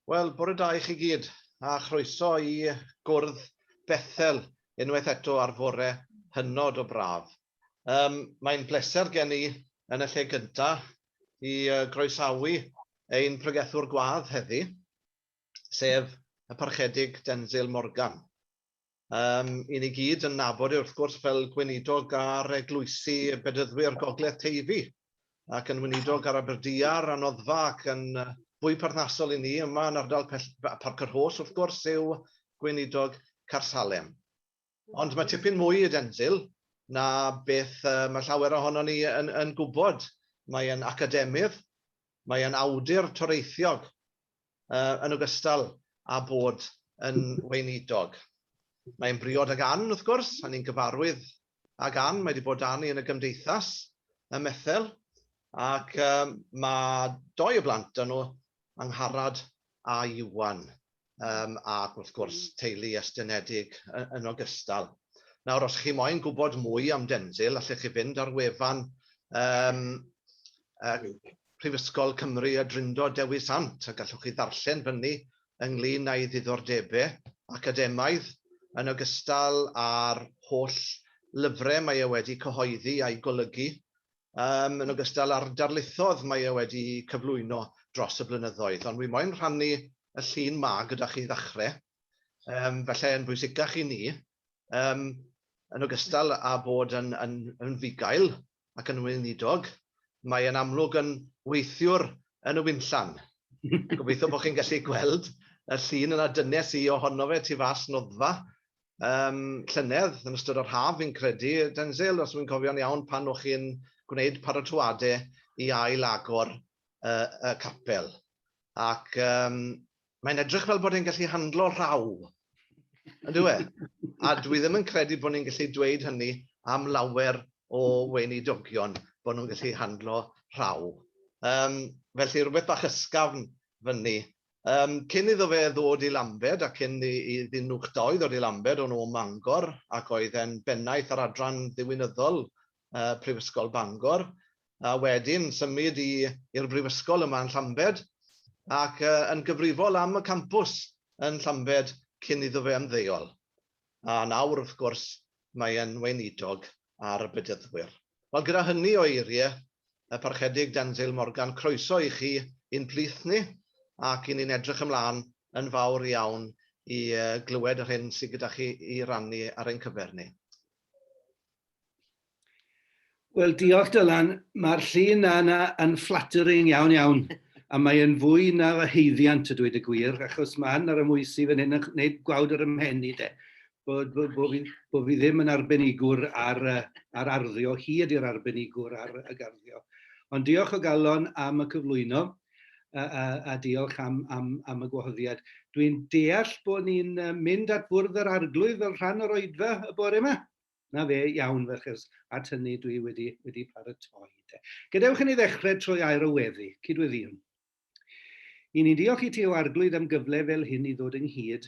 Wel, bore da i chi gyd, a chroeso i gwrdd Bethel unwaith eto ar fore hynod o braf. Um, Mae'n bleser gen i yn y lle gyntaf i groesawu ein pregethwr gwadd heddi, sef y Parchedig Denzil Morgan. Um, I ni gyd yn nabod e wrth gwrs fel gweinidog ar eglwysi bedyddwyr Gogledd Teifi ac yn weinidog ar Aberdiar a Noddfa ac yn fwy perthnasol i ni yma yn ardal Parc yr Hos wrth gwrs yw gweinidog Carsalem. Ond mae tipyn mwy i Denzil na beth mae llawer ohono ni yn, yn gwybod. Mae'n academydd, mae'n awdur toreithiog, yn ogystal â bod yn weinidog. Mae'n briod ag Ann, wrth gwrs, a ni'n gyfarwydd ag Ann, mae wedi bod â ni yn y gymdeithas ym Methel, ac um, mae doi o blant dyn nhw, Angharad a Iwan, um, ac wrth gwrs teulu estynedig yn ogystal. Nawr, os chi moyn gwybod mwy am Denzil, allech chi fynd ar wefan um, uh, Prifysgol Cymru a Drindod Dewi Sant a gallwch chi ddarllen fyny ynglŷn â'i ddiddordebau academaidd yn ogystal â'r holl lyfrau mae e wedi cyhoeddi a'u golygu, yym, yn ogystal â'r darlithoedd mae e wedi cyflwyno dros y blynyddoedd. Ond wi moyn rhannu y llun 'ma gyda chi i ddechrau, yym, falle yn bwysicach i ni, yym, yn ogystal â bod yn, yn, yn fugail, ac yn weinidog, mae e'n amlwg yn weithiwr yn y winllan. Gobeithio bod chi'n gallu gweld y llun yna, dynes i ohono fe tu fas noddfa um, llynedd yn ystod yr haf fi'n credu, Denzel, os wy'n cofio'n iawn, pan o'ch chi'n gwneud paratoade i ail agor uh, y capel. Ac um, mae'n edrych fel bod e'n gallu handlo rhaw. Yn dwi e? A dwi ddim yn credu bod ni'n gallu dweud hynny am lawer o weinidogion, bod nhw'n gallu handlo rhaw. Um, felly rhywbeth bach ysgafn fyny. Um, cyn iddo fe ddod i Lambed, a cyn i, i ddyn nhw'ch doi ddod i Lambed, o'n nhw o Mangor, ac oedd e'n bennaeth ar adran ddiwinyddol uh, Prifysgol Bangor, a wedyn symud i'r Brifysgol yma yn Llambed, ac uh, yn gyfrifol am y campws yn Llambed cyn iddo fe ymddeol. A nawr, wrth gwrs, mae e'n weinidog ar y bedyddwyr. Wel, gyda hynny o eiriau, y parchedig Denzil Morgan, croeso i chi i'n plith ni, ac i ni'n edrych ymlaen yn fawr iawn i glywed yr hyn sydd gyda chi i rannu ar ein cyfer ni. Wel, diolch Dylan. Mae'r llun yna yn flattering iawn iawn, a mae'n fwy na fy heiddiant y dweud y gwir, achos mae yna ramwysi fan hyn yn gwneud gwawd ar ymhen i de. Bod, bod, bod, fi, bod fi ddim yn arbenigwr ar, ar arddio, hi ydy'r arbenigwr ar y garddio. Ond diolch o galon am y cyflwyno a, a, a diolch am, am, am y gwahoddiad. Dwi'n deall bod ni'n mynd at fwrdd yr arglwydd fel rhan o'r oedfa y bore yma? Na fe, iawn ferchers, at hynny dwi wedi, wedi paratoi. De. Gadewch i ni ddechrau trwy air o weddi, cydweddiwn. I ni'n diolch i ti o arglwydd am gyfle fel hyn i ddod ynghyd.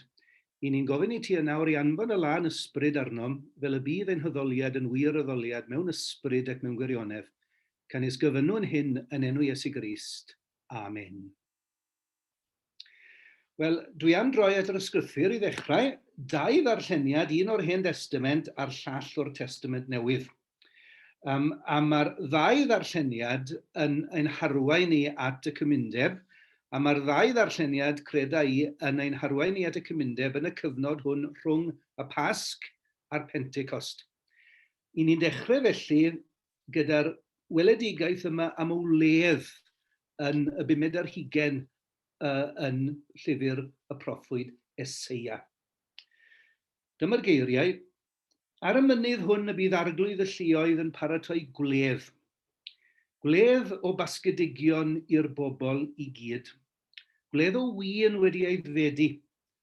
I ni'n gofyn i ti yn awr i anfon y lân ysbryd arnom, fel y bydd ein hoddoliad yn wir oddoliad mewn ysbryd ac mewn gwirionedd. Canis gyfynwn hyn yn enw Iesu Grist. Amen. Wel, dwi am droi at yr ysgrythur i ddechrau, dau ddarlleniad, un o'r Hen Destament a'r llall o'r Testament Newydd. Um, a mae'r ddau ddarlleniad yn ein harwain ni at y cymundeb, a mae'r ddau ddarlleniad, creda i, yn ein harwain ni at y cymundeb yn y cyfnod hwn rhwng y Pasg a'r Pentecost. I ni'n dechrau felly gyda'r weledigaeth yma am y wledd yn y bumed ar hugain yn llyfr y proffwyd Eseia. Dyma'r geiriau, Ar y mynydd hwn y bydd arglwydd y lluoedd yn paratoi gwledd, gwledd o basgedigion i'r bobl i gyd, gwledd o win wedi aeddfedu,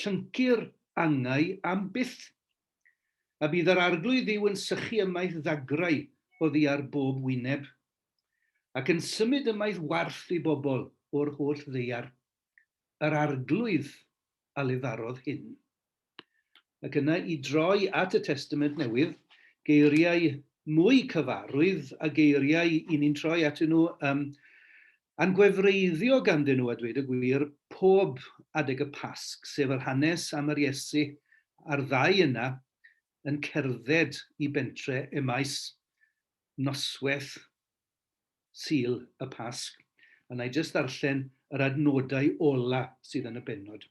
Llyncu'r angau am byth. A bydd yr Arglwydd Dduw yn sychu ymaith ddagrau oddi ar bob wyneb, ac yn symud ymaith warth i bobl o'r holl ddaear, yr Arglwydd a lefarodd hyn. Ac yna i droi at y Testament Newydd, geiriau mwy cyfarwydd a geiriau 'y ni'n troi atyn nhw ym A'n gwefreiddio ganddyn nhw, a dweud y gwir, pob adeg y Pasg, sef yr hanes am yr Iesu a'r ddau yna yn cerdded i bentre Emmaus, noswaith Sul y Pasg. A wna i jyst ddarllen yr adnodau ola' sydd yn y bennod.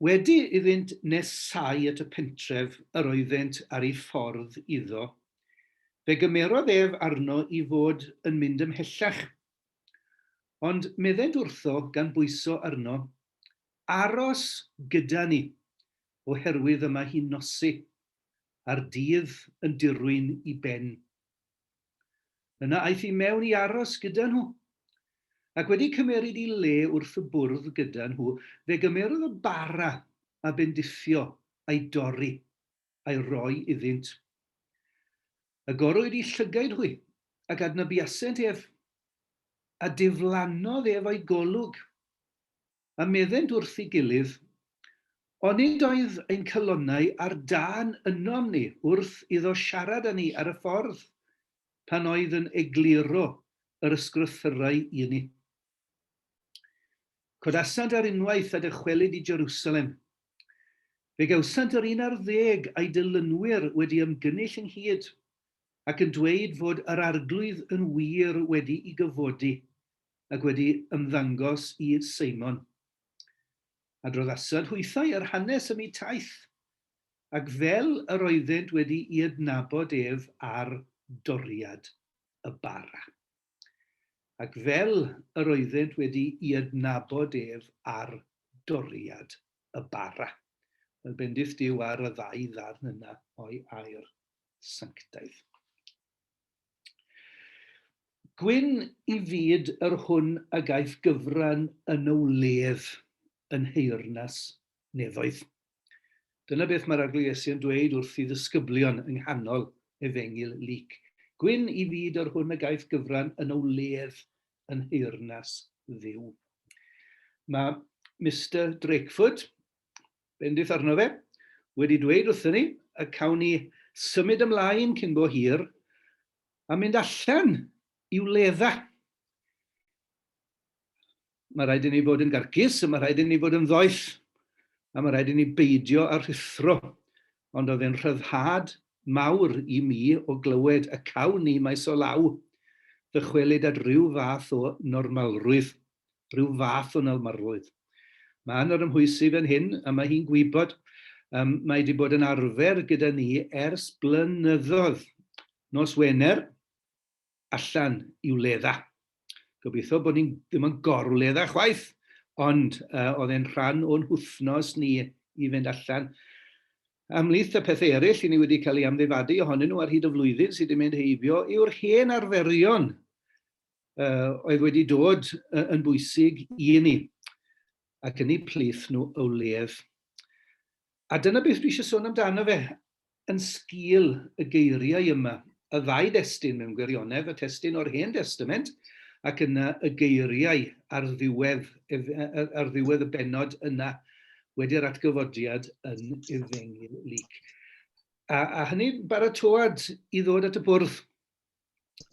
Wedi iddynt nesáu at y pentref yr oeddent ar eu ffordd iddo, fe gymerodd ef arno i fod yn mynd ymhellach. Ond meddent wrtho gan bwyso arno, Aros gyda ni, oherwydd y mae hi'n nosi, a'r dydd yn dirwyn i ben. Yna aeth i mewn i aros gyda nhw. Ac wedi cymeryd i le wrth y bwrdd gyda nhw, fe gymerodd y bara a bendithio a'i dorri, a'i roi iddynt. Agorwyd i llygaid hwy, ac adnabuasent ef, a diflannodd ef o'i golwg. a meddent wrth ei gilydd, Onid oedd ein calonnau ar dân ynom ni wrth iddo siarad â ni ar y ffordd, pan oedd yn egluro yr ysgrythyrau i ni? Codasant ar unwaith a dychwelid i Jerusalem. Fe gawsant yr un ar ddeg a'i dilynwyr wedi ymgynnull ynghyd, ac yn dweud fod yr Arglwydd yn wir wedi'i gyfodi, ac wedi ymddangos i Seimon. Adrodd Asad hwythau yr hanes ym mi taith, ac fel yr oeddent wedi i adnabod ef ar doriad y bara. Ac fel yr oeddent wedi i adnabod ef ar doriad y bara. Wel, bendith Dyw ar y ddau ddarn yna o'i air sanctaidd. Gwyn i fyd yr hwn a gaiff gyfran yn y wledd yn nheyrnas nefoedd. Dyna beth mae'r Arglwydd Iesu yn dweud wrth i ddisgyblion yng nghanol Efengyl Luc. Gwyn i fyd yr hwn a gaiff gyfran yn y wledd yn nheyrnas dduw. Mae Mister Drakeford Bendith arno fe, wedi dweud wrthyn ni y cawn ni symud ymlaen cyn bo hir a mynd allan i wledda. Mae rhaid i ni fod yn garcus, a mae rhaid i ni fod yn ddoeth, a mae rhaid i ni beidio a rhuthro. Ond oedd e'n rhyddhad mawr i mi o glywed y cawn ni maes o law ddychwelyd at ryw fath o normalrwydd. rhyw fath o nawmarddrwydd. Mae yn yr ymhwysig yn hyn y mae hi'n gwybod um, mae wedi bod yn arfer gyda ni ers blynyddoedd. Nos Wener, allan i wledda. Gobeithio bod ni'n ddim yn gorwledda chwaith, ond uh, oedd e'n rhan o'n hwthnos ni i fynd allan Ymhlith y pethau eraill i ni wedi cael ei amddifadu ohonyn nhw ar hyd y flwyddyn sydd wedi mynd heibio yw'r hen arferion uh, oedd wedi dod uh, yn bwysig i ni, ac yn ei plith nhw o ledd. A dyna beth dwi eisiau sôn amdano fe, yn sgil y geiriau yma, y ddau destun mewn gwirionedd, y testun o'r Hen Testament, ac yna y geiriau ar ddiwedd, ar ddiwedd y benod yna, wedi'r atgyfodiad yn efengyl lyc. A, a hynny baratoad i ddod at y bwrdd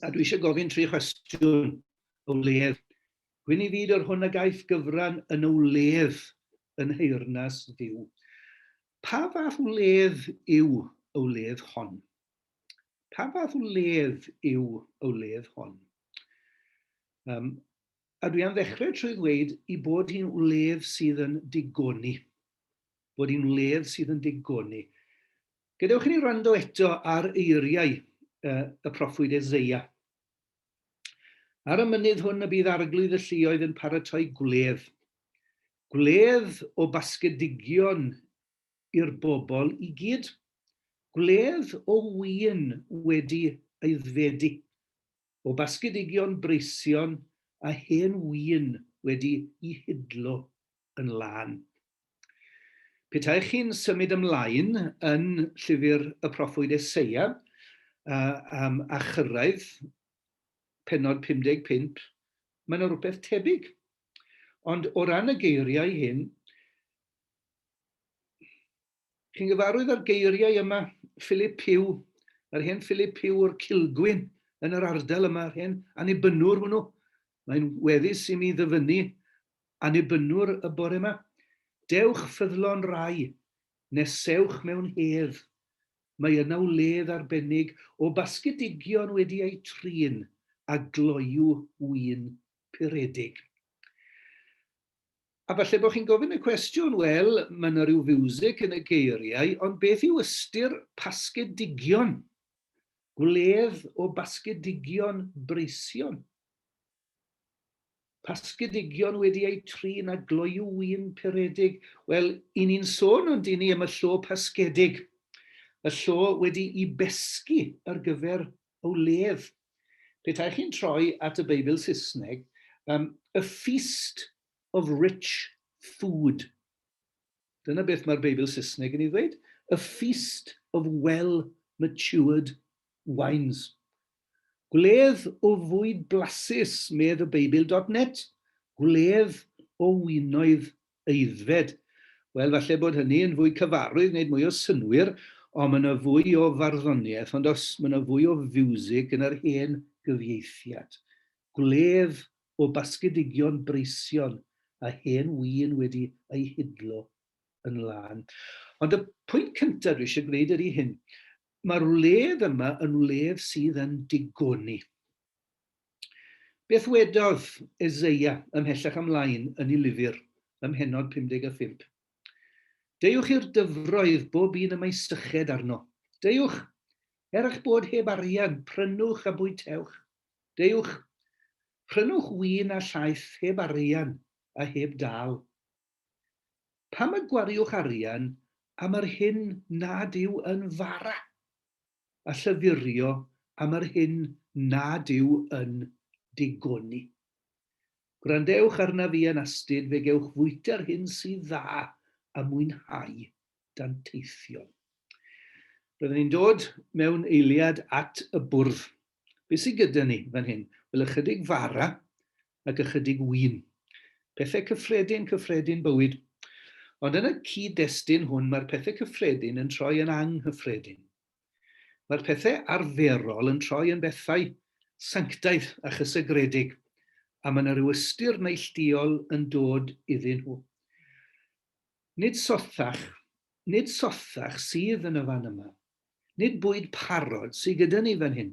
a dwi eisiau gofyn tri chwestiwn o wledd. Gwyn i fyd o'r hwn a gaiff gyfran yn o wledd yn heyrnas ddiw. Pa fath wledd yw o wledd hon? Pa fath wledd yw o wledd hon? Um, a dwi am ddechrau trwy ddweud i bod hi'n wledd sydd yn digoni. Bod hi'n wledd sydd yn digoni. Gadewch i ni wrando eto ar eiriau y proffwyd Eseia. Ar y mynydd hwn y bydd arglwydd y lluoedd yn paratoi gwledd. Gwledd o basgedigion i'r bobl i gyd. Gwledd o win wedi aeddfedu, o basgedigion breision a hen win wedi'i hidlo. yn lân. Petaech chi'n symud ymlaen yn llyfr y proffwyd Eseia a, um, a chyrraedd penod 55, mae yna rhywbeth tebyg. Ond o ran y geiriau hyn, Chi'n gyfarwydd â'r geiriau yma, Philip Pugh, yr hen Philip Pugh o'r Cilgwyn yn yr ardal yma, yr hen Annibynwr hwnnw. Mae'n weddus i mi ddyfynnu Annibynwr y bore yma. Dewch ffyddlon rai, nesewch mewn hedd. Mae yna wledd arbennig o basgedigion wedi eu trin a gloyw win puredig. A falle bod chi'n gofyn y cwestiwn, wel, mae yna rhyw fiwsig yn y geiriau, ond beth yw ystyr pasgedigion? Gwledd o basgedigion breision. Pasgedigion wedi eu trin a gloyw win peredig. Wel, i ni'n sôn ond i ni am y llo pasgedig y llo wedi'i besgu ar gyfer O leiaf, petai chi'n troi at y Beibl Saesneg, um, a feast of rich food. Dyna beth mae'r Beibl Saesneg yn ei ddweud. A feast of well-matured wines. Gwledd o fwyd blasus, medd y Beibl.net. Gwledd o winoedd aeddfed. Wel, falle bod hynny yn fwy cyfarwydd, wneud mwy o synnwyr, ond mae yna fwy o farddoniaeth, ond os, mae yna fwy o fiwsig yn yr hen gyfieithiad. Gwledd o basgedigion breision a hen win wedi eu hidlo yn lân. Ond y pwynt cyntaf dwi eisiau gwneud ydy hyn, mae'r wledd yma yn wledd sydd yn digoni. Beth wedodd Eseia ymhellach ymlaen yn ei lyfr ym mhennod 55? Deuwch i'r dyfroedd bob un y mae syched arno. Deuwch, er eich bod heb arian, prynwch a bwytewch. Deuwch, prynwch win a llaeth heb arian a heb dâl. Pam y gwariwch arian am yr hyn nad yw yn fara? a llythyrio am yr hyn nad yw yn digoni. Gwrandewch arnaf i yn astud fe gewch fwyta'r hyn sydd dda a mwynhau danteithion. Roedden ni'n dod mewn eiliad at y bwrdd Be sy gyda ni fan hyn? Wel, ychydig fara ac ychydig win. Pethau cyffredin, cyffredin bywyd. Ond yn y cyd-destun hwn mae'r pethau cyffredin yn troi yn anghyffredin. Mae'r pethau arferol yn troi yn bethau sanctaidd a chysegredig, a mae yna rhyw ystyr neillduol yn dod iddyn nhw. Nid sothach, nid sothach sydd yn y fan yma. Nid bwyd parod sy gyda ni fan hyn.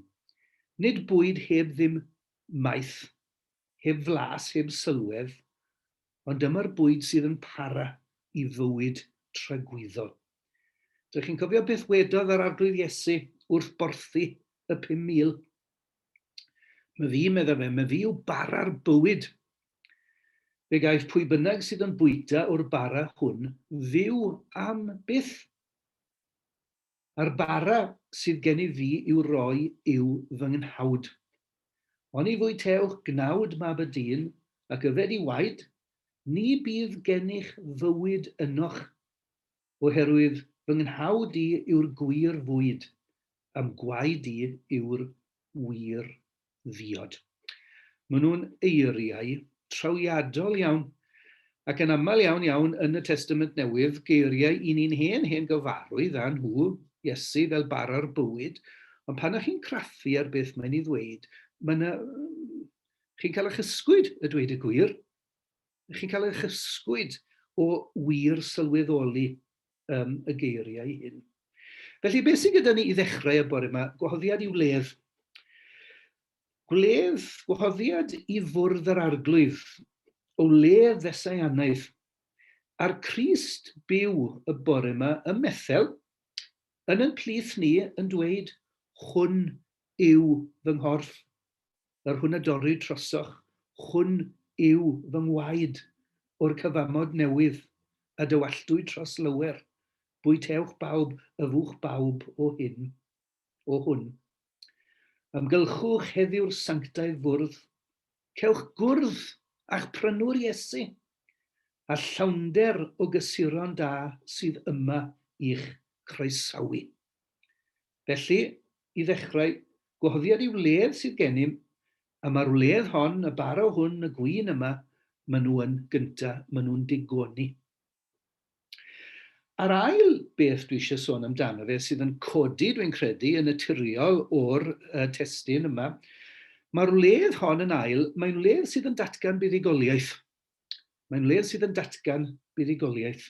Nid bwyd heb ddim maeth, heb flas, heb sylwedd, ond dyma'r bwyd sydd yn para i fywyd tragwyddol. Dych chi'n cofio beth wedodd yr Arglwydd Iesu wrth borthi y 5,000? Mae fi, meddai fe, mae fi yw bara'r bywyd. Fe gaiff pwy bynnag sydd yn bwyta o'r bara hwn fyw am byth. Yr bara sydd gen i fi i'w roi yw fy nghnawd. Oni fwyte'wch gnawd mab y dyn, ac yfed i waed, ni bydd gennych fywyd ynoch, oherwydd fy nghnawd i yw'r gwir fwyd, a'm gwaed i yw'r wir ddiod. Maen nhw'n eiriau trawiadol iawn, ac yn aml iawn iawn yn y Testament Newydd, geiriau i ni'n hen hen gyfarwydd â nhw, Iesu fel bara'r bywyd, ond pan ych chi'n craffu ar beth mae'n ei ddweud, mae yna... chi'n cael eich ysgwyd, y dweud y gwir, chi'n cael eich ysgwyd o wir sylweddoli um, y geiriau hyn. Felly, beth sydd gyda ni i ddechrau y bore yma? Gwahoddiad i wledd. Gwledd, gwahoddiad i fwrdd yr arglwydd, o wledd ddesaianaidd. A'r Crist byw y bore yma ym Methel, yn yn plith ni yn dweud, hwn yw fy nghorff. yr hwn a dorri trosoch, hwn yw fy ngwaed, o'r cyfamod newydd, a dywalltwy tros lower, bwyteowch bawb, yfwch bawb o hyn, o hwn. Ymgylchwch heddiw'r sanctaidd fwrdd, cewch gwrdd a'ch prynwr Iesu, a llawnder o gysuron da sydd yma i'ch croesawu. Felly, i ddechrau, gwahoddiad i'w wledd sydd gennym, a ma'r wledd hon, y baro hwn, y gwin yma, ma' nhw yn gynta, ma' nhw'n digoni. A'r ail beth dwi eisiau sôn amdano fe sydd yn codi, dwi'n credu, yn naturiol o'r uh, testyn yma, mae'r wledd hon yn ail, mae'n wledd sydd yn datgan buddugoliaeth. Mae'n wledd sydd yn datgan buddugoliaeth.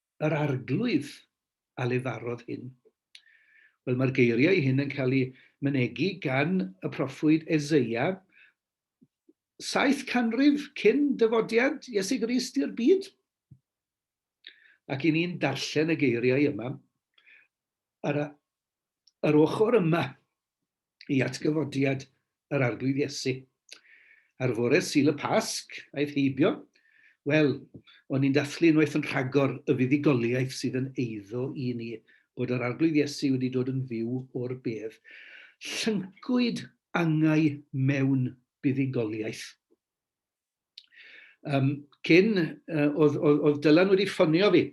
yr Arglwydd a lefarodd hyn? Wel, mae'r geiriau hyn yn cael eu mynegi gan y proffwyd Eseia, saith canrif cyn dyfodiad Iesu Grist i'r byd. Ac i ni'n darllen y geiriau yma, yr, yr ochr yma i atgyfodiad yr Arglwydd Iesu. Ar fore Sul y Pasg, aeth heibio, wel, o'n i'n dathlu unwaith yn rhagor y fuddugoliaeth sydd yn eiddo i ni, bod yr Arglwydd Iesu wedi dod yn fyw o'r bedd. Llyncwyd angau mewn buddugoliaeth. Yym, cyn, uh, oedd, oedd, oedd Dylan wedi ffonio fi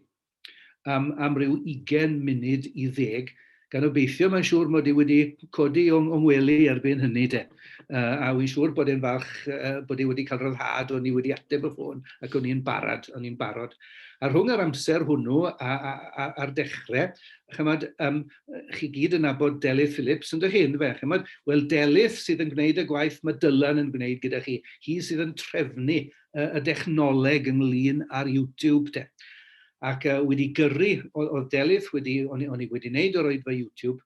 am, am ryw 20 munud i ddeg, gan obeithio mae'n siŵr mod i wedi codi o'n, o'n wely erbyn hynny de. Uh, a wy'n siŵr bod e'n falch uh, bod i wedi cael rhyddhad o'n i wedi ateb y ffôn ac o'n i'n barod, o'n i'n barod. A rhwng yr amser hwnnw a'r dechrau, chymod, um, chi gyd yn nabod Delyth Phillips, yn dych chi, yndyfe? Chymod, wel Delyth sydd yn gwneud y gwaith mae Dylan yn gwneud gyda chi. Hi sydd yn trefnu uh, y dechnoleg ynglyn ar YouTube te. Ac uh, wedi gyrru, oedd Delyth wedi, o'n i wedi wneud o'r oedfa YouTube,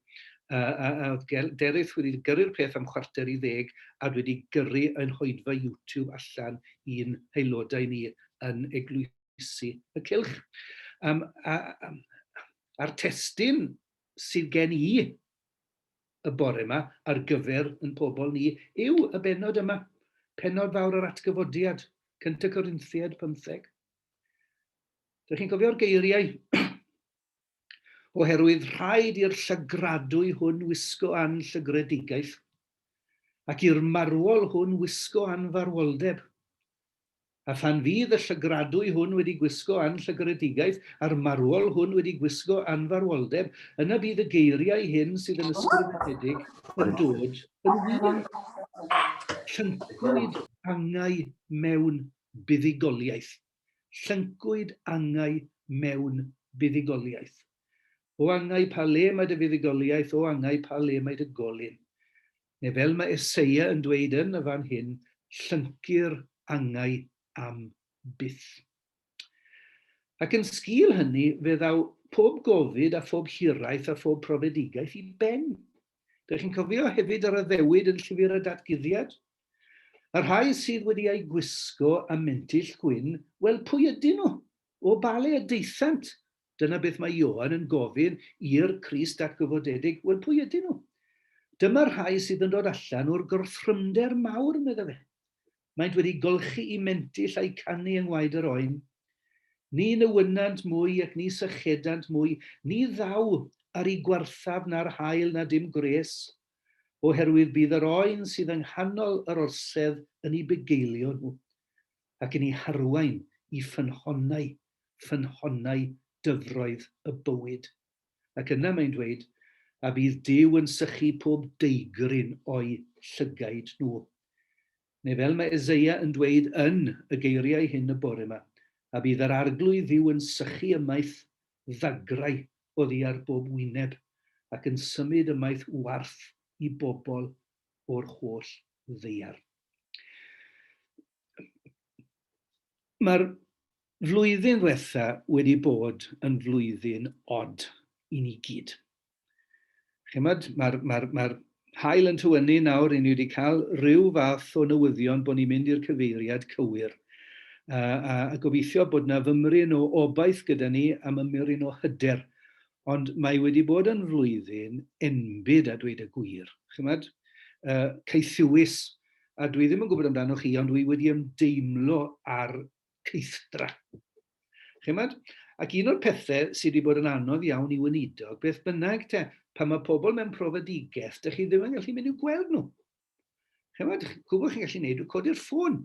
oedd Derith wedi gyrru'r peth am chwarter i ddeg a dwi wedi gyrru yn hoedfa YouTube allan i'n haelodau ni yn eglwysi y cilch. Um, a, a, a'r testun sydd gen i y bore yma ar gyfer yn pobl ni yw y bennod yma, pennod fawr yr Atgyfodiad, Cynt y Corinthiaid pymtheg. Dych chi'n cofio'r geiriau? Oherwydd rhaid i'r llygradwy hwn wisgo an llygredigaeth, ac i'r marwol hwn wisgo an farwoldeb. A phan fydd y llygradwy hwn wedi gwisgo anllygredigaeth, a'r marwol hwn wedi gwisgo anfarwoldeb, yna bydd y geiriau hyn sydd yn ysgrifenedig yn dod yn wir. Llyncwyd angau mewn buddugoliaeth. Llyncwyd angau mewn buddugoliaeth. O angau pa le mae dy fuddugoliaeth, o angau pa le mae dy golyn. neu fel mae Eseia yn dweud yn y fan hyn, llyncu'r angau am byth. Ac yn sgil hynny, fe ddaw pob gofid a phob hiraeth a phob profedigaeth i ben. Dych chi'n cofio hefyd yr addewid yn llyfr y datguddiad? Y rhai sydd wedi eu gwisgo a mentyll gwyn, wel pwy ydyn nhw? O bale y deithant? Dyna beth mae Ioan yn gofyn i'r Crist atgyfodedig, wel, pwy ydyn nhw? Dyma'r rhai sydd yn dod allan o'r gorthrymder mawr, medda fe. Maent wedi golchi'u mentyll a'u canu yng ngwaed yr oen. Ni newynnant mwy ac ni sychedant mwy, ni ddaw ar i gwarthaf na'r haul na dim gwres, oherwydd bydd yr oen sydd yng nghanol yr orsedd yn i bugeilio nhw, ac yn i harwain i ffynhonnau ffynhonnau dyfroedd y bywyd. Ac yna mae'n dweud, A bydd Duw yn sychu pob deigryn o'u llygaid nhw. Neu fel mae Eseia yn dweud yn y geiriau hyn y bore yma, A bydd yr Arglwydd Dduw yn sychu ymaith ddagrau oddi ar bob wyneb, ac yn symud ymaith warth i bobl o'r holl ddaear. Mae'r flwyddyn ddiwetha' wedi bod yn flwyddyn od i ni gyd. Chimod, mae'r ma ma haul yn tywynnu nawr, i ni wedi cael rhyw fath o newyddion bod ni'n mynd i'r cyfeiriad cywir. A, a, a gobeithio bod na fymryn o obaith gyda ni am ymyryn o hyder Ond mae wedi bod yn flwyddyn enbyd a dweud y gwir. Chymod, uh, caethiwus, a dwi ddim yn gwybod amdano chi, ond dwi wedi ymdeimlo ar ceithdra. Chymod? Ac un o'r pethau sydd wedi bod yn anodd iawn i weinidog, beth bynnag te, pan mae pobl mewn profedigaeth, dych chi ddim yn gallu mynd i'w gweld nhw. Chymod, gwybod chi'n gallu gwneud, codi'r ffôn.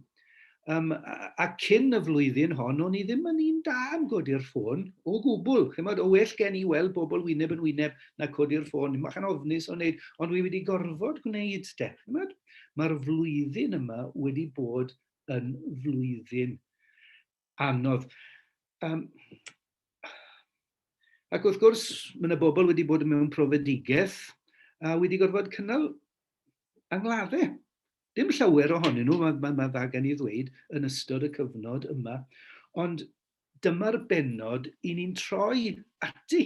Um, a, a cyn y flwyddyn hon, o'n i ddim yn un da am godi'r ffôn, o gwbl. Chymod, o well gen i weld bobl wyneb yn wyneb na codi'r ffôn. Mae chan ofnus o'n wneud, ond wi wedi gorfod gwneud, de. Chymod, mae'r flwyddyn yma wedi bod yn flwyddyn anodd. Um, ac wrth gwrs, mae yna bobl wedi bod mewn profedigaeth a wedi gorfod cynnal angladdau. Dim llawer ohonyn nhw, mae, mae, mae dda gen i ddweud, yn ystod y cyfnod yma. Ond dyma'r benod i ni'n troi ati.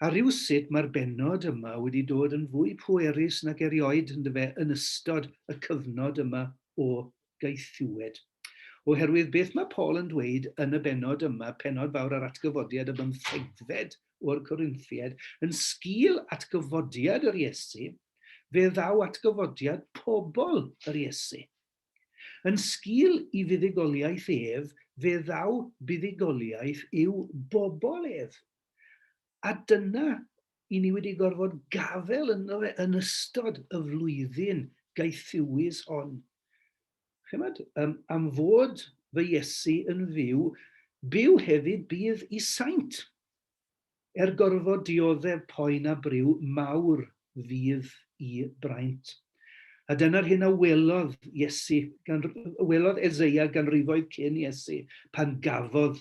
A rhyw sut mae'r benod yma wedi dod yn fwy pwerus nag erioed yn dyfe yn ystod y cyfnod yma o gaethiwed. Oherwydd beth mae Paul yn dweud yn y benod yma, penod fawr ar atgyfodiad y bymthegfed o'r Corinthied, yn sgil atgyfodiad yr Iesu, fe ddaw atgyfodiad pobl yr Iesu. Yn sgil i fuddugoliaeth ef, fe ddaw buddugoliaeth i'w bobl ef. A dyna, i ni wedi gorfod gafael ynddo fe yn ystod y flwyddyn gaethiwus hon. Chymod, um, am fod fy Iesu yn fyw, byw hefyd bydd i saint. Er gorfod dioddef poen a briw, mawr fydd i braint. A dyna'r hyn a welodd Iesu, gan, welodd Ezeia ganrifoedd cyn Iesu, pan gafodd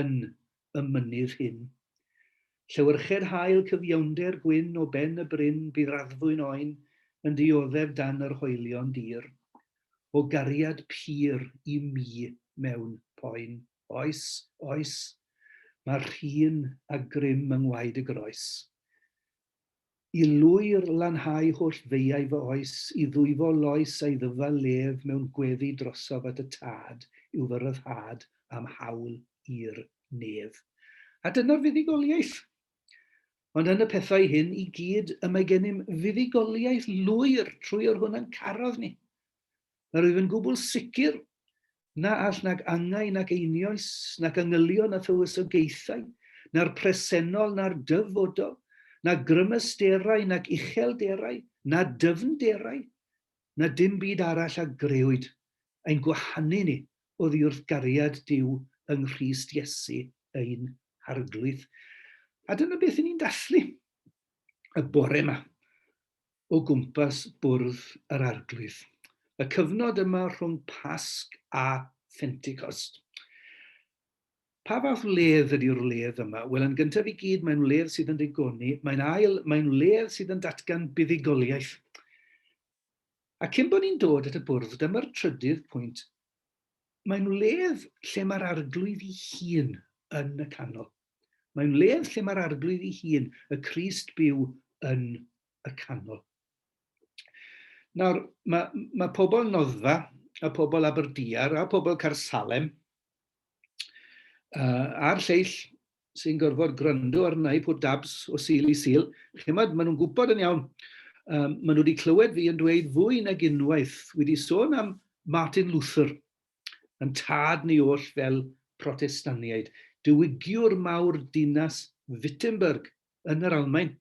yn y mynydd hyn. Llewyrched haul cyfiawnder gwyn o ben y bryn bydd raddfwyn oen yn dioddef dan yr hoelion dir. O gariad pur i mi mewn poen. Oes, oes, mae'r rhun a grym yng ngwaed y groes. I lwyr lanhau holl feiau fy oes, i ddwyfo loes a'i ddyfal lef mewn gweddi drosof at y Tad yw fy ryddhad a'm hawl i'r nef. A dyna'r fuddugoliaeth! Ond yn y pethau hyn i gyd y mae gennym fuddugoliaeth lwyr trwy yr hwn a'n carodd ni. Yr wyf yn gwbl sicr na all nag angau nag einioes, nac yngylion na thywysogaethau, na'r presennol na'r dyfodol, na grymasterau nag uchelderau, na dyfnderau, na dim byd arall a grëwyd, ein gwahanu ni oddiwrth gariad Duw yng Nghrist Iesu ein Harglwydd. A dyna beth 'yn ni'n dathlu y bore 'ma. o gwmpas bwrdd yr Arglwydd, y cyfnod yma rhwng Pasg a Phentecost. Pa fath wledd ydy'r wledd yma? Wel, yn gyntaf i gyd, mae'n wledd sydd yn ddigoni, mae'n ail, mae'n wledd sydd yn datgan buddugoliaeth. A cyn bod ni'n dod at y bwrdd, dyma'r trydydd pwynt, mae'n wledd lle mae'r arglwydd i hun yn y canol. Mae wledd lle mae'r Arglwydd ei hun, y Crist byw yn y canol. Nawr, mae, mae pobl Noddfa, a pobl Aberdiar, a pobl Carsalem, uh, a'r lleill sy'n gorfod gwrando arna i pwt dabs o sil i sil, chi'n maen nhw'n gwybod yn iawn, um, maen nhw wedi clywed fi yn dweud fwy nag unwaith, wedi sôn am Martin Luther, Yn tad ni oll fel Protestaniaid, diwygiwr mawr dinas Wittenberg yn yr Almaen.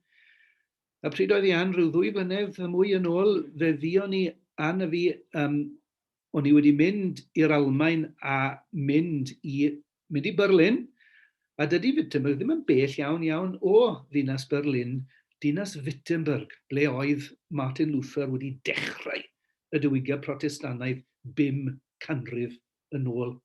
A pryd oedd Ian? Rhyw ddwy flynedd a mwy yn ôl, fe fuon i, Ann a fi, yym, o'n i wedi mynd i'r Almaen a mynd i Mynd i Berlin? A dydy Wittenberg ddim yn bell iawn iawn o ddinas Berlin, dinas Wittenberg, ble oedd Martin Luther wedi dechrau y diwygiad Protestannaidd bum canrif yn ôl.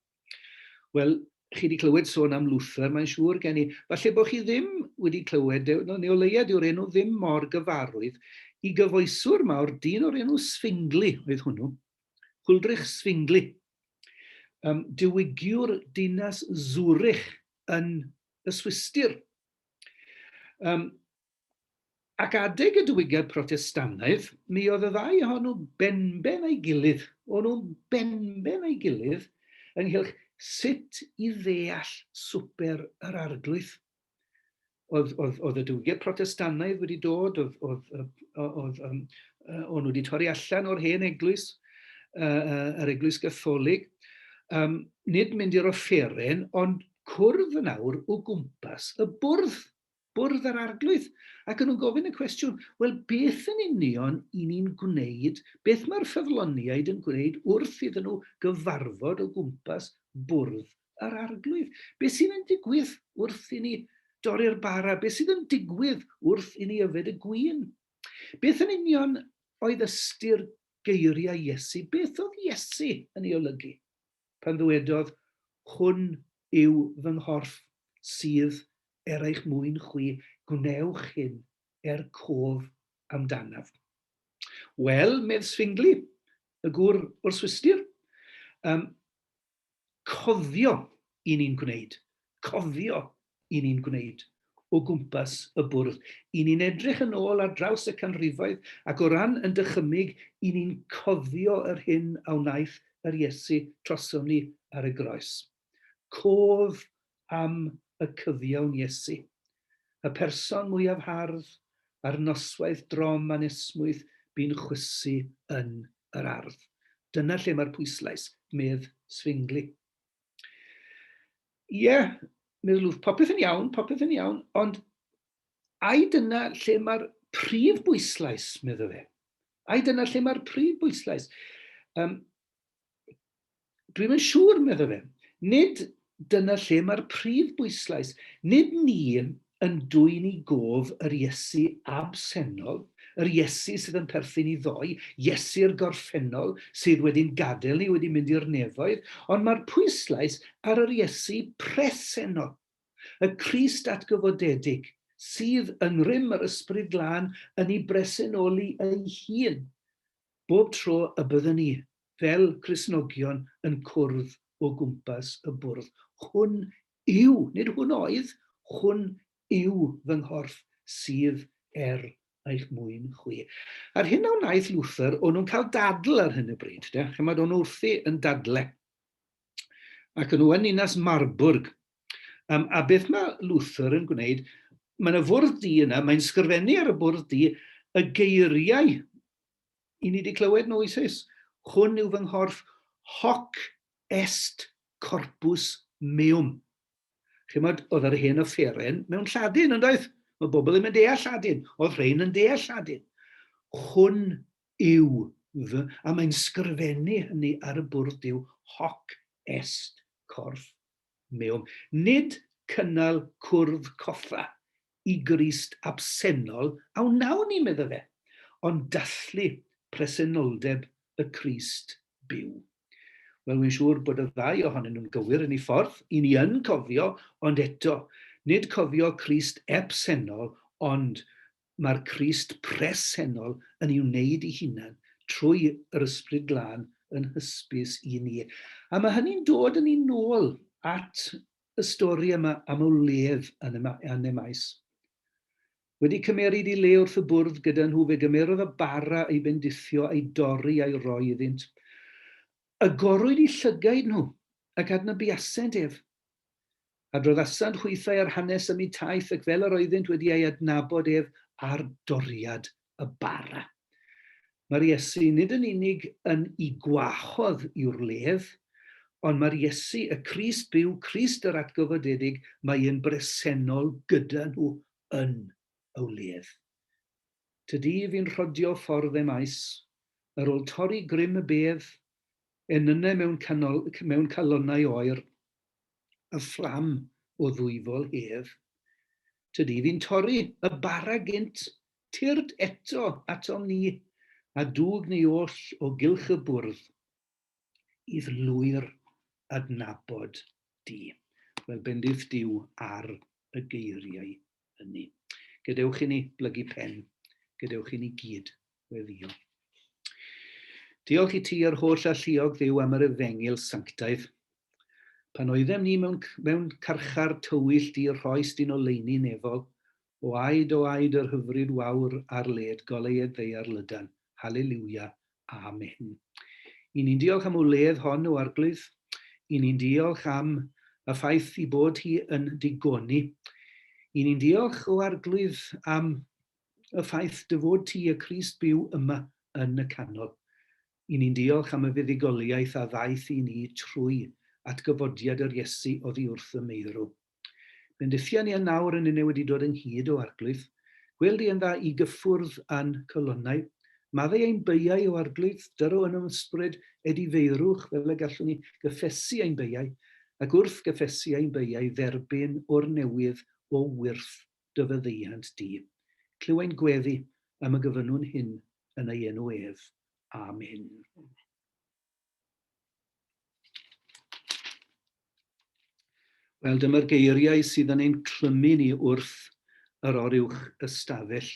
Wel, chi wedi clywed sôn am Luther, mae'n siŵr gen i. Falle bod chi ddim wedi clywed, e, no, neu o leia dyw'r enw ddim mor gyfarwydd, i gyfoeswr mawr, dyn o'r enw Sfingli oedd hwnnw, Huldrych Sfingli, Um, diwygiwr dinas Zurich yn y Swistir. Um, ac adeg y diwygiad protestannaidd, mi oedd y ddau ohonw benben ei gilydd, o'n nhw'n benben ei gilydd ynghylch sut i ddeall swper yr arglwydd. Oedd, oedd, oedd y diwygiad protestannaidd wedi dod, oedd, oedd, oedd, oedd um, o'n nhw wedi torri allan o'r hen eglwys, uh, yr eglwys gatholig. Um, nid mynd i'r offeren, ond cwrdd yn awr o gwmpas y bwrdd, bwrdd yr arglwydd. Ac yn nhw'n gofyn y cwestiwn, wel beth yn union i ni'n gwneud, beth mae'r ffyddloniaid yn gwneud wrth iddyn nhw gyfarfod o gwmpas bwrdd yr Arglwydd. Beth sydd yn digwydd wrth i ni dorri'r bara? Beth sydd yn digwydd wrth i ni yfed y gwyn? Beth yn union oedd ystyr geiriau Iesu? Beth oedd Iesu yn ei olygu pan ddywedodd, Hwn yw fy nghorff sydd er eich mwyn chwi, gwnewch hyn er cof amdanaf. Wel, medd Sfingli, y gŵr o'r Swistir, um, cofio i ni'n gwneud, cofio i ni'n gwneud o gwmpas y bwrdd. I ni'n edrych yn ôl ar draws y canrifoedd ac o ran yn dychymyg i ni'n cofio yr hyn a wnaeth yr Iesu trosom ni ar y groes. Cof am y cyfiawn Iesu, y person mwyaf hardd, a'r noswaith drom anesmwyth bu'n chwysu yn yr ardd. Dyna lle mae'r pwyslais, medd Zwingli. Ie, medd Lwf, popeth yn iawn, popeth yn iawn, ond ai dyna lle mae'r prif bwyslais, medda fe? Ai dyna lle mae'r prif bwyslais? Um, Dwi'm yn siŵr, meddai fe. Nid dyna lle mae'r prif bwyslais. Nid ni yn dwyn i gof yr Iesu absennol, yr Iesu sydd yn perthyn i ddoe, Iesu'r gorffennol sydd wedi'n gadael ni, wedi mynd i'r nefoedd, ond mae'r pwyslais ar yr Iesu presennol, y Crist atgyfodedig, sydd, yng ngrym yr Ysbryd Glân, yn ei bresenoli ei hun. Bob tro y byddwn ni, fel Cristnogion, yn cwrdd o gwmpas y bwrdd, Hwn yw, nid Hwn oedd, Hwn yw fy nghorff sydd er eich mwyn chwi. A'r hyn a wnaeth Luther, o'n nhw'n cael dadl ar hyn o bryd, de, chymod, o'n nhw wrthi yn dadle. Ac o'n nhw yn ninas Marburg, Um, a beth mae Luther yn gwneud? Mae yna fwrdd di yna, mae'n sgrifennu ar y bwrdd di y geiriau i ni wedi clywed nhw eisoes. Hwn yw fy nghorff hoc est corpus meum. Chymod, oedd yr hen offeren mewn lladin, ond oedd? Mae bobl ddim yn deall lladin. Oedd rhain yn deall lladin. Hwn yw fy, a mae'n sgrifennu hynny ar y bwrdd yw hoc est corff meum, nid cynnal cwrdd coffa i Grist absennol a wnawn ni, medda fe, ond dathlu presenoldeb y Crist byw. Wel, wy'n siŵr bod y ddau ohonyn nhw'n gywir yn ei ffordd, i ni yn cofio, ond eto, nid cofio Crist ebsennol, ond Mae'r Crist presennol yn ei wneud ei hunan trwy yr Ysbryd Glân yn hysbys i ni. A mae hynny'n dod â ni nôl at y stori yma am y wledd yn yn Emaus. Wedi cymeryd i le wrth y bwrdd gyda nhw, fe gymerodd y bara ei bendithio, ei dorri a'i roi iddynt. Agorwyd i llygaid nhw, ac adnabuasent ef, Adroddasant hwythau ar hanes ym myd taith ac fel yr oeddynt wedi ei adnabod ef ar doriad y bara. Mae'r Iesu nid yn unig yn y gwahodd i wrledd, ond mae'r Iesu, y Crist byw, Crist yr atgyfodedig, mae yn bresennol gyda nhw yn y wledd. Tydi fi'n rhodio ffordd em aes, yr ol torri grym y bedd enynnau mewn canol, mewn calonnau oer, y fflam o ddwyfol hedd. Tydi fi'n torri y bara gynt, tyrd eto atom ni, a dwg ni oll o gylch y bwrdd, i'r lwyr adnabod di. Wel, bendith Dyw ar y geiriau hynny. Gadewch i ni blygu pen, gadewch i ni gyd Gweddïo. Diolch i ti yr holl alluog ddiw am yr efengil sanctaidd. Pan oeddem ni mewn, mewn carchar tywyll di rhoes dyn oleini nefol, o aed o aed yr hyfryd wawr ar led goleued ddeiar lydan. Hallelujah. Amen. I ni'n diolch am wledd hon o arglwydd. I ni'n diolch am y ffaith i bod hi yn digoni. I ni'n diolch o arglwydd am y ffaith dy fod ti, y Crist, byw yma yn y canol. I ni'n diolch am y fuddugoliaeth a ddaeth i ni trwy atgyfodiad yr Iesu oddi wrth y meirw. Bendithia ni yn nawr yn une wedi dod ynghyd o arglwydd, gwêl di yn dda i gyffwrdd a'n colonnau, maddau ein beiau o arglwydd, dyro yn ymysbryd ed i feirwch fel y gallwn ni gyffesu ein beiau, ac wrth gyffesu ein beiau dderbyn o'r newydd o wyrth dy faddeuant di. Clywai'n gweddu am y gyfynnwn hyn yn ei enw ef. Amen. Wel, dyma'r geiriau sydd yn ein clymu ni wrth yr oruwch ystafell.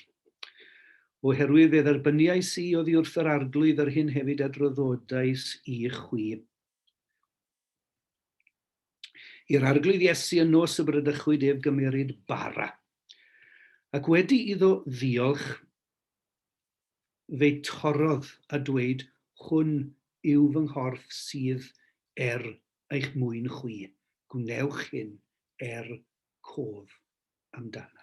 Oherwydd fe dderbyniais i oddi wrth yr arglwydd yr hyn hefyd a droddodais i chwi. I'r Arglwydd Iesu y nos y brydychwyd ef gymeryd bara. Ac wedi iddo ddiolch, fe torrodd a dweud, Hwn yw fy nghorff sydd er eich mwyn chwi, gwnewch hyn er cof amdanaf.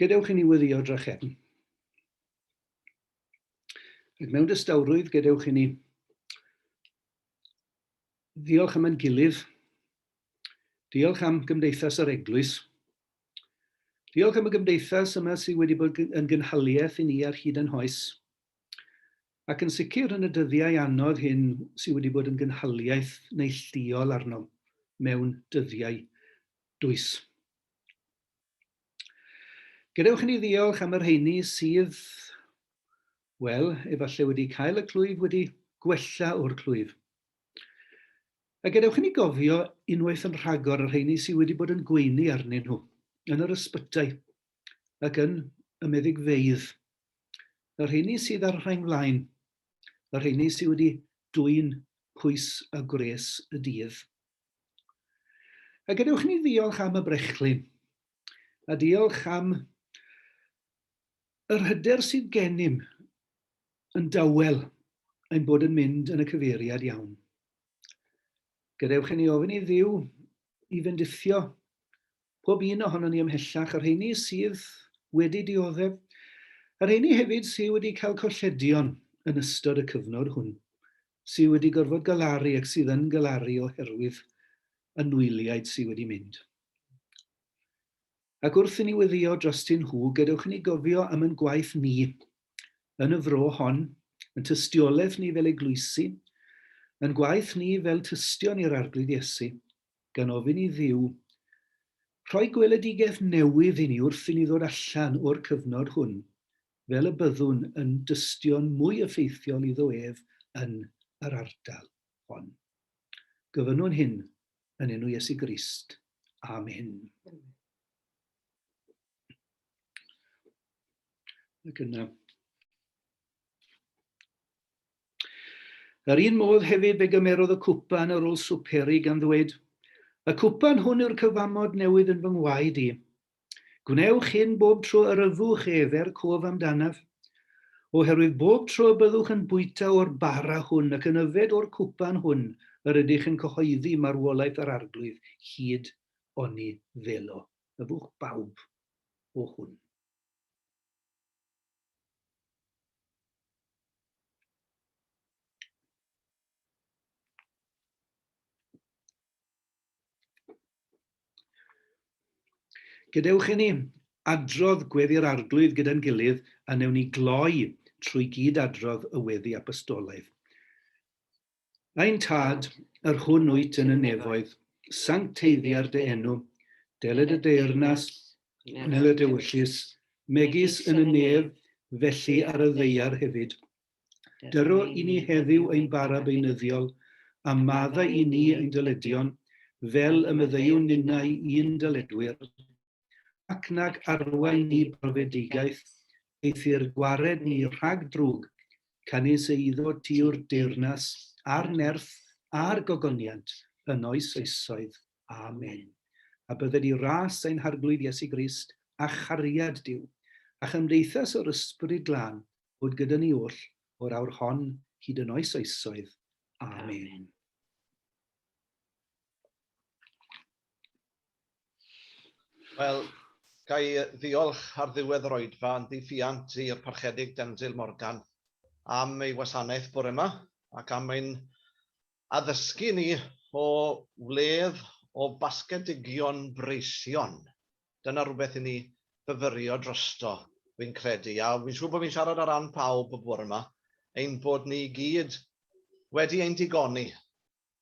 Gadewch i ni weddïo drachefn. Ac mewn dystawrwydd, gadewch i ni ddiolch am ein gilydd, diolch am gymdeithas yr eglwys, diolch am y gymdeithas yma sydd wedi bod yn gynhaliaeth i ni ar hyd yn hoes, ac yn sicr yn y dyddiau anodd hyn sydd wedi bod yn gynhaliaeth neillduol arnom mewn dyddiau dwys. Gadewch i ni ddiolch am y rheini sydd, wel, efallai wedi cael y clwyf wedi gwella o'r clwyf. A gadewch i ni gofio unwaith yn rhagor y rheini sydd wedi bod yn gweini arnyn nhw, yn yr ysbytau ac yn y meddygfeydd, y rheini sydd ar rhain flaen, y rheini sydd wedi dwy'n pwys a gwres y dydd. A gadewch ni ddiolch am y brechlyn, a diolch am yr hyder sydd gennym yn dawel ein bod yn mynd yn y cyfeiriad iawn. Gadewch i ni ofyn i Dduw i fendithio Pob un ohonon ni ymhellach, y rheini sydd wedi dioddef, y rheini hefyd sydd wedi cael colledion yn ystod y cyfnod hwn, sydd wedi gorfod galaru ac sydd yn galaru oherwydd y nwyliaid sydd wedi mynd. Ac wrth i ni weddïo drostyn nhw, gadewch i ni gofio am ein gwaith ni yn y fro hon, yn tystiolaeth ni fel eglwysi, yn gwaith ni fel tystion i'r Arglwydd Iesu, gan ofyn i Dduw rhoi gweledigaeth newydd i ni wrth i ni ddod allan o'r cyfnod hwn fel y byddwn yn dystion mwy effeithiol iddo ef yn yr ardal hon. Gofynnwn hyn yn enw Iesu Grist. Amen. Ac yna, Yr un modd hefyd fe gymerodd y cwpan ar ol swperi, gan ddweyd, Y cwpan hwn yw'r cyfamod newydd yn fy ngwaed i. Gwnewch hyn bob tro yr yfwch ef, er cof amdanaf. Oherwydd bob tro y byddwch yn bwyta o'r bara hwn ac yn yfed o'r cwpan hwn yr ydych yn cyhoeddi marwolaeth yr Arglwydd hyd oni ddelo yfwch bawb o hwn. Gadewch i ni adrodd gweddi'r Arglwydd gyda'n gilydd a newn ni gloi trwy gyd-adrodd y weddi apostolaidd. Ein Tad, yr hwn wyt yn y nefoedd, sancteiddiar dy enw, dele dy deyrnas, nel y dewyllys, megis yn y nef, felly ar y ddeiar hefyd. Dyro i ni heddiw ein bara beunyddiol, a madda i ni ein dyledion, fel y meddeuwn ninnau i'n dyledwyr. ac nag arwain ni brofedigaeth, eithr gwared ni rhag drwg, canys eiddo ti yw'r deyrnas, a'r nerth, a'r gogoniant, yn oes oesoedd. Amen. A bydded i ras ein Harglwydd Iesu Grist, a chariad Duw, a chymdeithas yr Ysbryd Glân, fod gyda ni oll o'r awr hon hyd yn oes oesoedd. Amen. Wel, ga i ddiolch ar ddiwedd yr oedfa yn ddiwylliant i'r Parchedig Denzil Morgan am ei wasanaeth bore yma ac am ein addysgu ni o wledd o basgedigion breision. Dyna rhywbeth i ni fyfyrio drosto, fi'n credu, a fi'n siŵr bod fi'n siarad ar ran pawb bore yma, ein bod ni i gyd wedi ein digoni.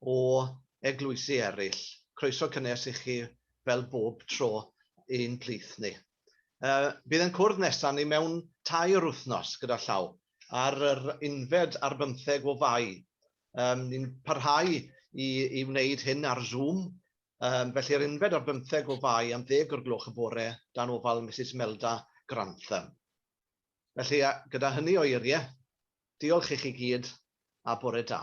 o eglwysi eraill. Croeso cynnes i chi fel bob tro i'n plith ni. Yy bydd yn cwrdd nesa ni mewn tair wythnos gyda llaw ar yr unfed ar bymtheg o Fai. Yym ni'n parhau i i wneud hyn ar Zoom yym felly yr unfed ar bymtheg o Fai am ddeg o'r gloch y bore dan ofal Misus Melda Grantham. Felly a gyda hynny o eirie Diolch i chi gyd a bore da.